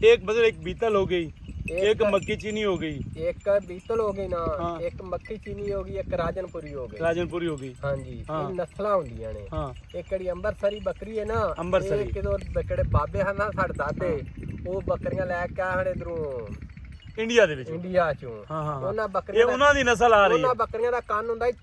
ایک بدل ایک بیتل ہو گئی ایک مکی چینی ہو گئی ایک بیتل ہو گئی نا ہاں۔ ایک مکھی چینی ہو گئی ایک راجن پوری ہو گئی راجن پوری ہو گئی ہاں جی ہاں۔ یہ نسلاں ہوندیاں نے ہاں یہ کڑی امبرسری بکری ہے نا امبرسری۔ یہ کدو بکڑے بابے ہیں نا ساڑ دادے وہ بکریاں لے کے آئے ہیں ادھروں انڈیا دے وچ انڈیا چوں ہاں ہاں ہاں۔ انہاں بکریاں یہ دا- انہاں دی نسل آ رہی انہاں ہے بکریاں دا کان ہوندا ہے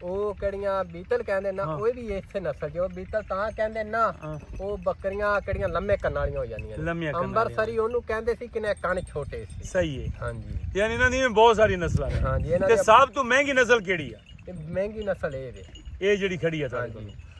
او کیڑیاں بیتل کہندے نا او وی ایتھے نسل جو بیتل تاں کہندے نا او بکریاں کیڑیاں لمے کن والیاں ہو جاندیاں لمے کن امبرسری اونوں کہندے سی کنے کن چھوٹے سی صحیح ہے ہاں جی یعنی انہاں دی بہت ساری نسلاں ہیں ہاں جی تے سب تو مہنگی نسل کیڑی ہے مہنگی نسل اے وے اے جڑی کھڑی ہے ہاں جی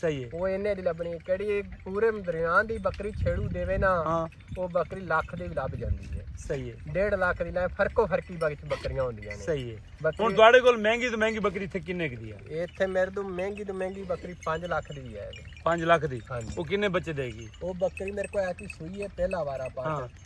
صحیح ہے۔ او اینے دی لبنی ہے کیڑی پورے مدریان دی بکری چھیڑو دیوے نا او بکری لاکھ دی بھی لب جاندی ہے۔ صحیح ہے۔ ڈیڑھ لاکھ دی لائیں فرقو فرقی بکری بکریاں ہوندیاں نے۔ صحیح ہے۔ ہن تواڈے کول مہنگی تو مہنگی بکری تھے کنے دی ہے؟ ایتھے میرے تو مہنگی تو مہنگی بکری پنج لاکھ دی بھی ہے۔ پنج لاکھ دی؟ ہاں جی۔ او کنے بچے دے گی؟ او بکری میرے کو ایسی سوئی ہے پہلا وارا پاتا۔